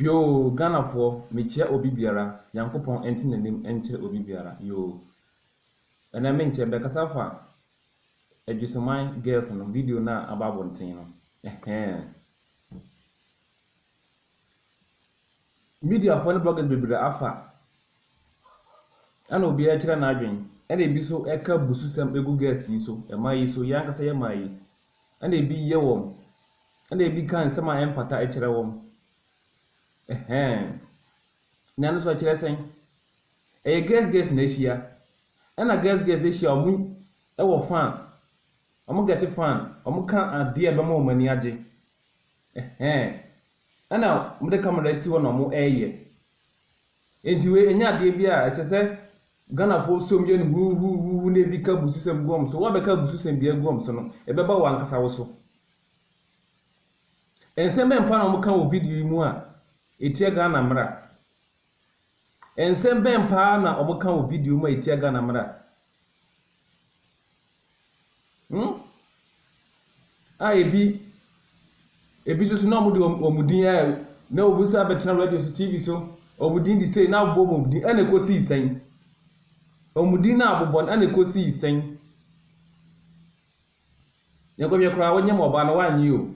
Yoo Ghanafoɔ mekyia obi biara Nyankopɔn nte nanim nkyerɛ obi biara yoo Ɛnɛ menkyɛ bɛkasa fa Adwisoman girls no video no a aba abonten no ɛhɛɛ Mediafoɔ ne bloggers bebree afa ɛna obiara kyerɛ n'adwen ɛna ebi so ɛka abususɛm egu girls yi so ɛmaa yi so yɛn ankasa yɛmaa yi ɛna ebi yɛ wɔn, ɛna ebi ka nsɛm a ɛmfata kyerɛ wɔn. Ɛhɛn. Nea no so ɛkyerɛ sɛn? Ɛyɛ girls girls na ahyia. Ɛna girls girls ahyia a wɔn wɔ fan. Wɔn gɛte fan. Wɔn ka adeɛ a ɛbɛma wɔn ani agye. Ɛhɛn. Ɛna wɔde camera asi hɔ na wɔreyɛ. Enti wei ɛnyɛ adeɛ bi a ɛsɛ sɛ Ghanafoɔ som yɛ no huuhuuhuuhu na ɛbi ka abususɛm gu wɔn so. Woabɛka abususɛm biara agu wɔn so no, ɛbɛba wo ankasa wo so. Nsɛm bɛn mpo ara na wɔka wɔ video yi mu a ɛtia Ghana mmara? Nsɛm bɛn paa na wɔka wɔ video mu a ɛtia Ghana mmara? Hmm? A ebi ebi nso so na wɔde wɔn, wɔn din a na obi nso abɛtena radio so, TV so, wɔn din de sei na abobɔ wɔn din ɛna ekosii sɛn? Wɔn din na abobɔ no ɛna ekosii sɛn? Yɛnkɔhwɛ koraa wonyɛ ma ɔbaa no wanyɛ o.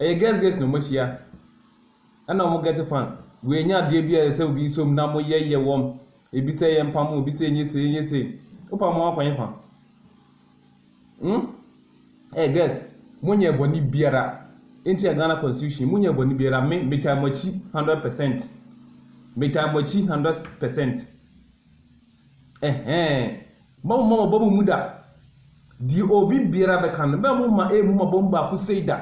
Ɛyɛ girls girls na wɔahyia ɛna wɔn get fan. Wei ɛnyɛ adeɛ bi a ɛsɛ sɛ obi som na wɔyɛ yɛ wɔm. Ebi sɛ yɛn pam obi sɛ ɛnyɛ sei ɛnyɛ sei. Wo pam wɔn akɔ hefa? Hmm? Ɛyɛ eh, girls mo nyɛ bɔne biara. Nti yɛ Ghana constitution mo nyɛ bɔne biara me me taa mo akyi hundred percent. Me taa mo akyi hundred percent. Ɛhɛɛ, mma momma mo bɔn mmu da. Deɛ obi biara bɛka no, mma momma ɛmmu mo bɔn baako sei da.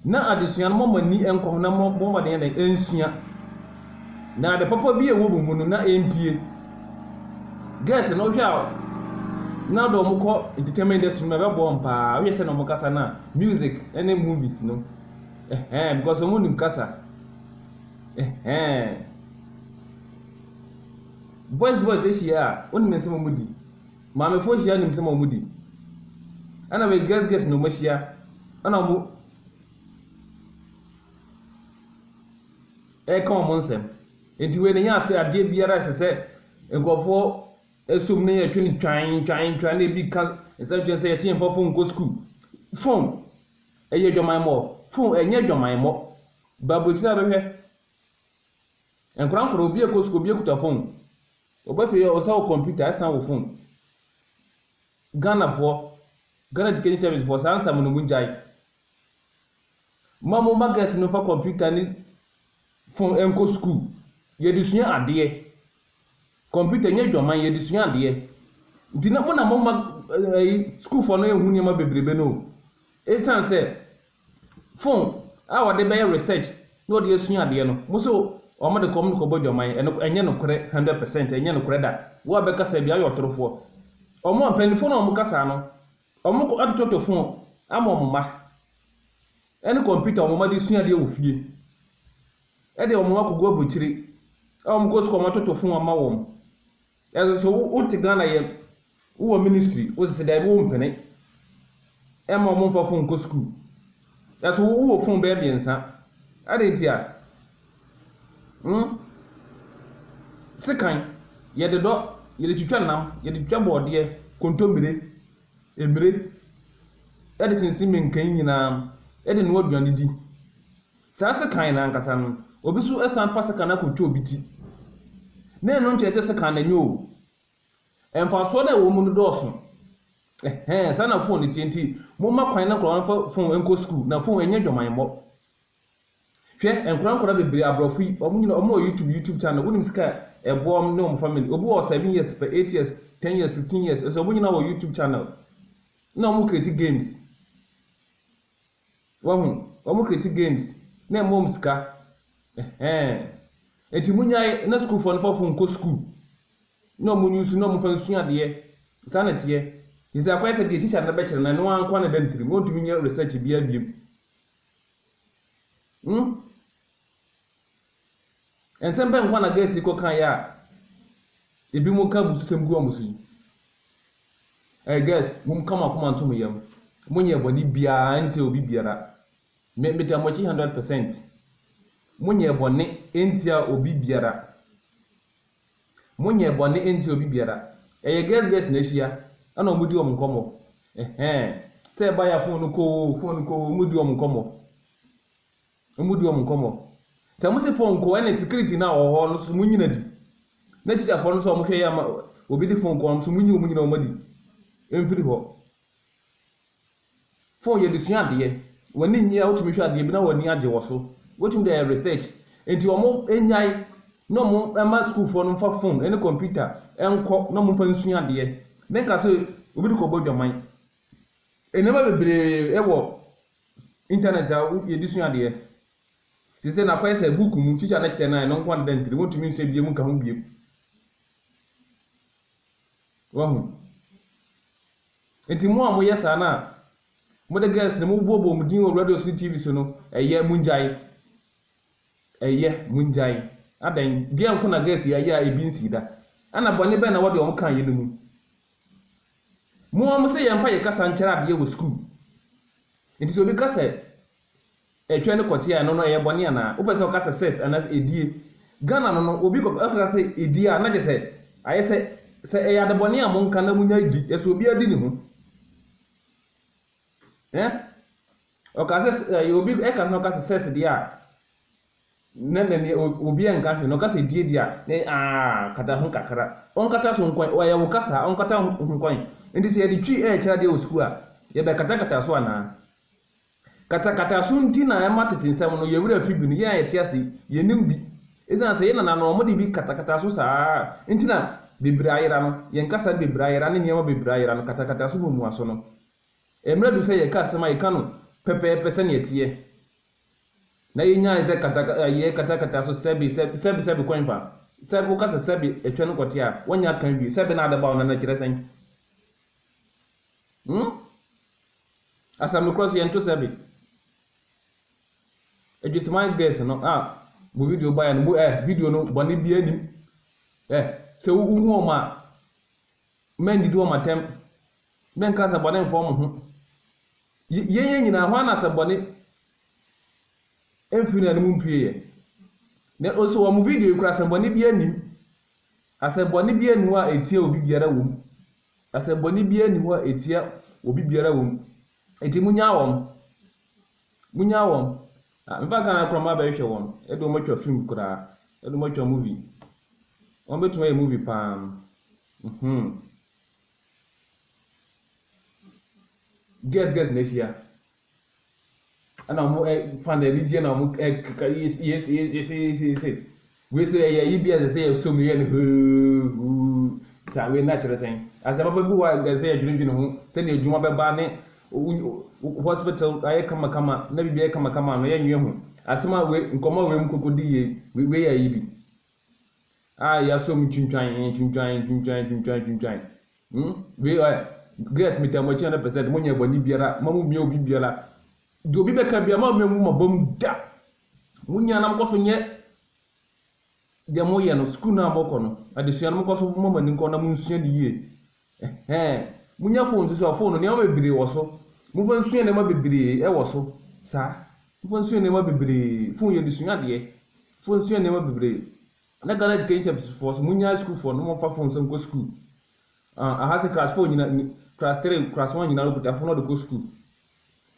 Na adesua no, momma mo ani nkɔ ho na mommɔ mmɔden yɛ dɛn? Ɛnsua. Na ade papa bi a ɛwɔ mo mu no, na ɛmpie. Gɛɛse no, wohwɛ a, na de wɔn kɔ entertainment industry no mu ɛbɛboa wɔn paa. Wohwɛ sɛ na wɔn kasa no a, music ne movies no. Ɛhɛɛ, because wɔn nim kasa. Ɛhɛɛn. Boys boys ahyia a, wonim nsɛm a wɔdi. Maamefoɔ ahyia a, wonim nsɛm a wɔdi. Ɛna afei girls girls na wɔahyia, ɛna wɔn ɛreka wɔn nsɛm. Nti wei na ɛnyɛ ase adeɛ biara a ɛsɛ sɛ nkurɔfoɔ ɛsom na yɛtwe no twan twan twan na ebi ka nsɛm kyerɛ sɛ yɛsɛ yɛn mfa phone nkɔ sukuu. Phone ɛyɛ adwamammɔ, phone ɛnyɛ adwamammɔ. Ba aburokyire a bɛhwɛ nkora nkora obi ɛkɔ sukuu obi ɛkuta fon ɔba fie ɔsa wo kɔmputa ɛsan wo fon Ghana foɔ Ghana education service foɔ saa nsɛm no mo ngyae ma mo ma girls no fa kɔmputa ne fon ɛnkɔ sukuu yɛde sua adeɛ kɔmputa nyɛ dwaman yɛde sua adeɛ nti na mo na mo ma ɛyi sukuufoɔ no ɛhu nneɛma bebrebe no o ɛsan sɛ phone a wɔde bɛyɛ research na wɔde asua adeɛ no, mo so wɔn de kɔ wɔn de kɔ bɔ adwaman, ɛno ɛnyɛ nokorɛ hundred percent, ɛnyɛ nokorɛ da, wo a bɛka saa biara woyɛ ɔtorofoɔ, wɔn a mpanimfoɔ no a wɔka saa no, wɔn kɔ atototo phone ama wɔn mma, ɛne computer wɔn mma de sua adeɛ wɔ fie, ɛde wɔn mma kɔ gu aburukyire, a wɔn kɔ sukuu a wɔn atoto phone ama wɔn. Nanso so wote Ghana yɛ wowɔ ministry wose sɛ daabi wompene ɛma wɔn mfa phone nkɔ school nanso wo wowɔ phone bɛyɛ mmiɛnsa adɛn nti a hmm sekan yɛde dɔ yɛde twitwa nam yɛde twitwa bɔɔdeɛ kontommire mmire ɛde sensen menkan nyinaa ɛde noa aduane di Saa sekan no ankasa no, obi nso san fa sekan no akɔtwa obi ti, na ɛno nkyerɛ sɛ sekan no anyɛ oo, mfasoɔ no a ɛwɔ mu no dɔɔso. Ɛhɛn, saa na fon no teɛ, nti momma kwan na nkwadaa no mfa fon nkɔ sukuu, na fon ɛnyɛ adwamammɔ. Hwɛ, nkwadaa nkwadaa bebree, aborɔfo yi, wɔn nyina, wɔn wɔ YouTube, YouTube channel, wonim sika a ɛboa wɔn ne wɔn family, obi wɔ seven years pɛ, eight years, ten years, fifteen years, ɛsɛ wɔn nyina wɔ YouTube channel, na wɔn create games. Wahu, wɔn create games na ɛma wɔn sika. Ɛhɛn. Enti munyae na sukuufoɔ no fɔfo nkɔ sukuu na wɔn use na wɔn fa nsua adeɛ. Saa na ɛteɛ. Te sɛ akɔyɛ sɛ deɛ teacher no bɛkyerɛ no ɛno ara nko ara na ɛda ne tirim. Wɔntumi nyɛ research biara biom. Hmm? Nsɛm bɛn nkwa na Gersi kɔkaeɛ a ebinom ka abususɛm gu wɔn so yi? Ɛɛ Gers, momka mo akoma nto mo yam. Monyɛɛ bɔne biara ntiaa obi biara. Me, meda mo akyi hundred percent. Monyɛɛ bɔne ntiaa obi biara. Monyɛɛ bɔne ntiaa obi biara. Ɛyɛ Gers Gers na ahyia, ɛna wɔdi wɔn nkɔmmɔ. Ɛhɛɛ, sɛ ɛbaeɛ a fon no kɔ oo, fon no kɔ oo, wɔdi wɔn nkɔmmɔ. Ɔmo di ɔmo nkɔmɔ. Sɛ mo se phone kɔ ɛna security no a ɔwɔ hɔ no nso mo nyina di. Na teacherfoɔ no nso a ɔmo hwɛ yɛ ama obi de phone kɔ hɔ no nso mo nyi ɔmo nyina ɔmo adi mfiri hɔ. Phone yɛde sua adeɛ. W'ani nnye a wotumi hwɛ adeɛ bi na w'ani agye wɔ so. Wotumi de ayɛ research. Nti ɔmo nnyae na ɔmo mma sukuufoɔ no mfa phone ɛne computer nkɔ na ɔmo mfa nsua adeɛ. Menka sɛ obi de kɔ bɔ adwaman. Nneɛma bebree ɛwɔ Internet a wo yɛde sua adeɛ. Te sɛ na kɔyɛ sɛ book mu teacher no kyerɛ no a ɛno nko ara deda ntire wontumi nsua biem nka ho biem. Wahu? Nti mo a mo yɛ saa no a mo de girls no mo bɔbɔ wɔn din wɔ radio so ne TV so no ɛyɛ mo ngyae. Ɛyɛ mo ngyae. Adɛn? Deɛ nko na girls yi ayɛ a ebi nsii da? Ɛna bɔne bɛn na wɔde wɔn ka yɛ no mu? Mo ara mose yɛmfa yɛn kasa nkyɛrɛ adeɛ wɔ sukuu. Nti sɛ obi ka sɛ ɛtwɛn ne kɔteɛ a, ɛno no ɛyɛ bɔne anaa? Wopɛ sɛ ɔka sɛ sex anaasɛ edie? Ghana no no, obi kɔ ka sɛ edie a, na kyerɛ sɛ ayɛ sɛ sɛ ɛyɛ adebɔne a monka na monyae di. Ɛsɛ obiara di ne ho. Ɛ? Ɔka sɛ ɛyɛ obi ɛka sɛ ɔka sɛ sex deɛ a, Na nani obiara nka hwee na ɔka sɛ die deɛ a ne aah kata ho kakra. Ɔnkata so nkɔn, ɛyɛ wo kasaa ɔnkata ho nkɔn. Nti sɛ yɛde twi ɛɛkyerɛ adeɛ wɔ sukuu a, yɛbɛkatakata so anaa? Katakata so nti na ɛma tete nsɛm no yɛn werɛ fi bi no yɛn a yɛte ase yi yɛnim bi. Ɛsiane sɛ yɛn nananom wɔde bi katakata so saa nti na bebree ayera no, yɛn kasa bebree ayera ne nneɛma bebree ayera no, katakata so mmuaso no. Mmerɛ adu sɛ yɛka asɛm a yɛka no pɛpɛɛpɛ sɛdeɛ ɛteɛ. na yenyae sɛ kataka ɛ yɛ katakata so sɛbe sɛ sɛbe sɛbe kwan fa sɛ woka sɛ sɛbe atwa no kɔte a woanya aka awie sɛbe na adɛbaw na na ɛkyerɛ sɛn hmm asɛm no korɔ so yɛnto sɛbe adwusiman girls no a mo video baeɛ no mo ɛ video no bɔne biara nim ɛ sɛ wohu wɔn a Mɛndidi wɔn atɛm. Mɛnka asɛmmɔne mfa wɔn ho. Y yɛn yɛn nyinaa, hwan na asɛmmɔne mfiri n'anom mpueeɛ? Na ɔsi wɔn video yi kora asɛmmɔne biara nnim. Asɛmmɔne biara nni hɔ a ɛtia obi biara wɔ mu. Asɛmmɔne biara nni hɔ a ɛtia obi biara wɔ mu. Enti monnyaa wɔn. Munya wɔn. Na meba Ghana koraa maba abɛhwehwɛ wɔn. Ɛde wɔn atwa film koraa. Ɛde wɔn atwa movie. Wɔn bɛtumi ayɛ movie paa. Mm-hmm. Guest guest na ahyia. Ɛna wɔn ɛ fan anigyeɛ na wɔn ɛ keka yes yes yes yes yes. Wei so ɛyɛ ayi bi a ɛsɛ sɛ yɛsɔ mu yɛ no hoo-hoo saa. Wei na kyerɛ sɛn? Asɛm papa bi wɔ hɔ a ɛsɛ sɛ yɛdwendwene ho, sɛnea adwuma bɛba ne wo wo hospital ayɛ kamakama na biribi ayɛ kamakama no, yɛnnwene ho. Asɛm a wei nkɔmmɔ a wei mu kɔkɔ di yei, wei yɛ ayi bi a yɛasɔ mu twintwan, twintwan, twintwan, twintwan, twintwan. Hmm? Wei ɛ, girls metaa mo akyi 100%, monyɛ bɔne biara, mma mommia obi biara. Deɛ obi bɛka biara, mma memmu mo abam da. Mo nyinaa na mokɔ so nyɛ deɛ moyɛ no, sukuu no a mokɔ no, adesua no mokɔ so mma mo ani nkɔ na monsua no yie. Ɛhɛn, monya phone nso so, phone no nneɛma bebree wɔ so. Momfa nsua nneɛma bebree wɔ so, saa. Momfa nsua nneɛma bebree, phone yɛde sua adeɛ. Momfa nsua nneɛma bebree. Na Ghana Education Service foɔ nso, monnyae sukuufoɔ no, momfa phone nso nkɔ sukuu. Ah, aha sɛ class four nyina, class three, class one nyinaa wɔkuta phone na wɔde kɔ sukuu.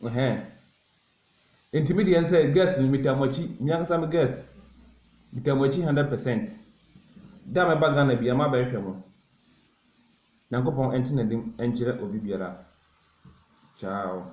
Ɛhɛn. Nti me deɛ nsɛ girls no metaa mo akyi me ankasa me girls metaa mo akyi hundred percent da a mɛba Ghana bia maba ɛhwɛ mo Nyankopɔn ɛnte nanim ɛnkyerɛ obi biara ciao.